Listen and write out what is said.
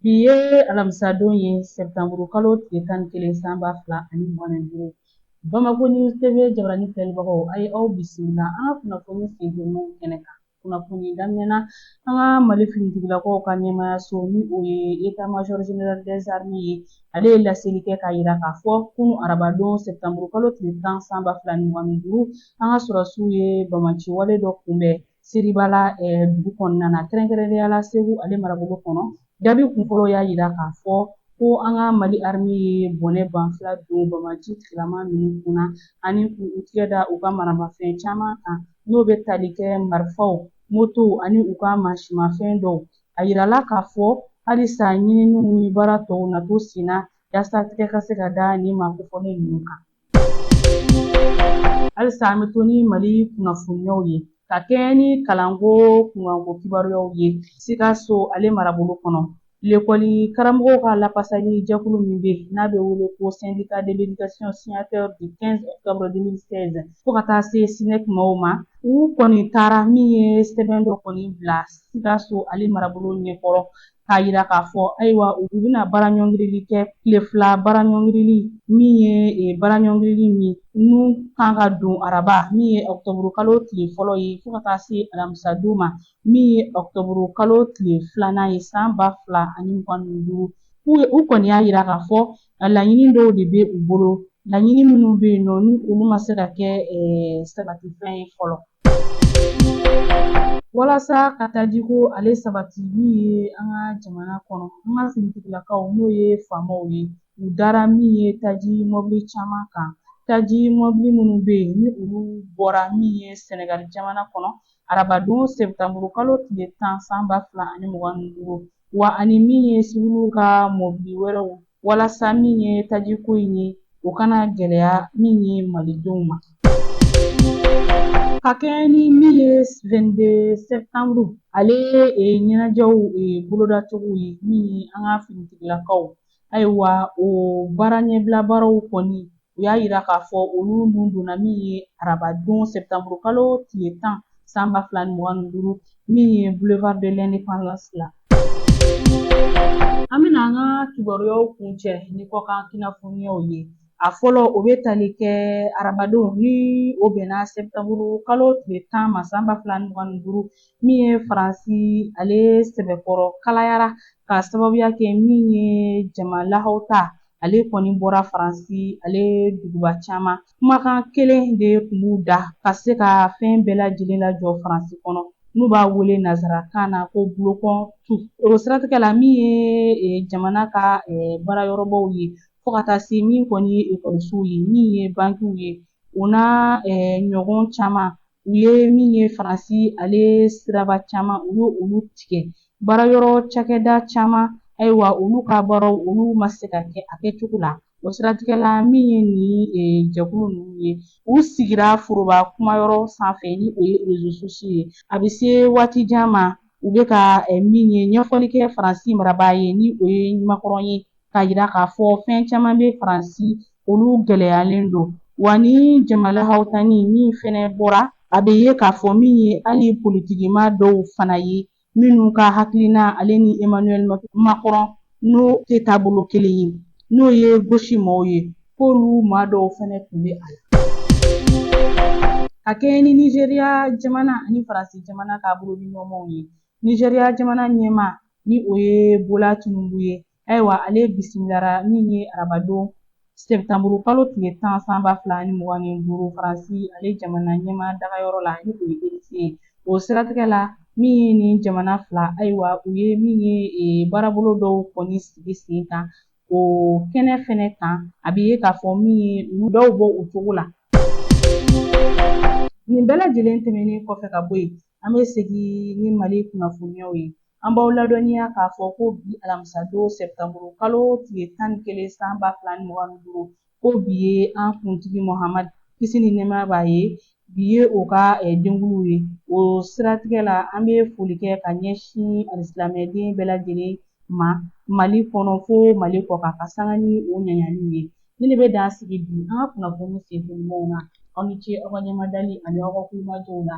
Bi ye alamisadon ye sebutanburu kalo tile tan ni kelen san ba fila ani mugan ni duuru Bamakɔ News TV jabaranin filɛlibagaw a ye aw bisimila an ka kunnafoni sen kɛnɛ kan kunnafoni daminɛ na an ka Mali finitigilakaw ka ɲɛmaya so ni o ye État Major Général des Armées ye ale ye laseli kɛ k'a yira k'a fɔ kunun arabadon sebutanburu kalo tile tan san ba fila ni mugan ni duuru an ka sɔrɔdasiw ye banbaanci wale dɔ kunbɛn Seribala dugu kɔnɔna na kɛrɛnkɛrɛnnenya la Segu ale marabolo kɔnɔ jaabi kunfɔlɔ y'a yira k'a fɔ ko an ka Mali armée ye bɔnɛ banfula don banbaanci tigilama ninnu kunna ani k'u tigɛ da u ka maramafɛn caman kan n'o bɛ tali kɛ marifaw motow ani u ka mansimafɛn dɔw a yirala k'a fɔ halisa ɲininiw ni baara tɔw na to senna yaasa tigɛ ka se ka da nin maa kofɔlen ninnu kan Halisa an bɛ to ni Mali kunnafoniyaw ye ka kɛɲɛ ni kalanko kunkanko kibaruyaw ye Sikaso ale marabolo kɔnɔ lekɔli karamɔgɔw ka lafasali jɛkulu min bɛ yen n'a bɛ wele ko Syndicat de l'éducation signataire du 15 octobre 2016 fo ka taa se SNEC maaw ma u kɔni taara min ye sɛbɛn dɔ kɔni bila Sikaso ale marabolo ɲɛkɔrɔ k'a yira k'a fɔ ayiwa u bɛna baaraɲɔngirili kɛ tile fila baaraɲɔngirili min ye e, baaraɲɔngirili min n'u kan ka don araba min ye ɔkutɔburu kalo tile fɔlɔ ye fo ka taa se alamisa don ma min ye ɔkutɔburu kalo tile filanan ye san ba fila ani mugan ni duuru u kɔni y'a yira k'a fɔ Laɲini dɔw de bɛ u bolo laɲini minnu bɛ yen nɔ ni olu ma se ka kɛ sabatifɛn ye fɔlɔ walasa ka tajiko ale sabati min ye an ka jamana kɔnɔ an ka finitigilakaw n'o ye faamaw ye u dara min ye taji mɔbili caman kan taji mɔbili minnu bɛ yen ni olu bɔra min ye Sɛnɛgali jamana kɔnɔ arabadon sebutanburu kalo tile tan san ba fila ani mugan ni duuru wa ani min ye siwiliw ka mɔbili wɛrɛw walasa min ye tajiko in ye o kana gɛlɛya min ye malidenw ma ka kɛɲɛ ni min ye 22 septembre ale ɲɛnajɛw bolodacogo ye min ye an ka finitigilakaw Ayiwa o baara ɲɛbila baaraw kɔni u y'a yira k'a fɔ olu nun donna min ye arabadon septembre kalo tile tan san ba fila ni mugan ni duuru min ye boulevard de l'indépendance la an bɛna an ka kibaruyaw kuncɛ ni kɔkan kunnafoniyaw ye a fɔlɔ o bɛ tali kɛ arabadon ni o bɛnna septembre kalo tile tan ma san ba fila ni mugan ni duuru min ye faransi ale sɛbɛkɔrɔ kalayara k'a sababuya kɛ min ye jama lahawuta ale kɔni bɔra faransi ale duguba caman kumakan kelen de tun b'u da ka se ka fɛn bɛɛ lajɛlen lajɔ faransi kɔnɔ n'u b'a wele nazarakan na ko bloquons tout o siratigɛ la min ye e, jamana ka e, baarayɔrɔbaw ye fo ka taa se min kɔni ye ekɔlisow ye min ye bankiw ye o n'a e, ɲɔgɔn caman u ye min ye faransi ale siraba caman u ye olu tigɛ baarayɔrɔ cakɛda caman ayiwa olu ka baaraw olu ma se ka kɛ a kɛcogo la o siratigɛ la min ye nin e, jɛkulu ninnu ye u sigira foroba kumayɔrɔ sanfɛ ni o ye réseaux sociaux ye a bɛ se waati jan ma u bɛ ka e, min ye ɲɛfɔli kɛ faransi marabaa ye ni o ye macron ye k'a yira k'a fɔ fɛn caman bɛ faransi olu gɛlɛyalen don wa ni jama lahawutani min fɛnɛ bɔra a bɛ ye k'a fɔ min ye hali politikima dɔw fana ye minnu ka hakilina ale ni emmanuel macron n'o tɛ taabolo kelen ye n'o ye gauche mɔgɔw ye k'olu maa dɔw fɛnɛ tun bɛ a la ka kɛɲɛ ni nizeriya jamana ani faransi jamana ka bolodiɲɔgɔnmaw ye Nizeriya jamana ɲɛma ni o ye Bola Tinubu ye ayiwa ale bisimilara min ye arabadon sɛptanburu kalo tile tan san ba fila ni mugan ni duuru faransi ale jamana ɲɛma dagayɔrɔ la ni o ye élysée ye o siratigɛ la min ye nin jamana fila ayiwa u ye min ye e, baarabolo dɔw kɔni sigi sen kan o kɛnɛ fɛnɛ kan a bɛ ye k'a fɔ min ye dɔw bɔ o cogo la nin bɛɛ lajɛlen tɛmɛnen kɔfɛ ka bɔ yen An bɛ segin ni Mali kunnafoniyaw ye. An b'aw ladɔnniya k'a fɔ ko bi alamisadon sɛptanburu kalo tile tan ni kelen san ba fila ni mugan ni duuru ko bi ye an kuntigi Mohamad kisi ni nɛɛmaya b'a ye bi ye o ka eh, denkunliw ye o siratigɛ la an bɛ foli kɛ ka ɲɛsin alisilamɛden bɛɛ lajɛlen ma mali kɔnɔ fo mali kɔkan ka sanga ni o ɲaɲaliw ye nin de bɛ dan sigi bi an ka kunnafoni senfɛ ɲumanw na aw ni ce aw ka ɲɛmadali ani aw ka tulomajɔw la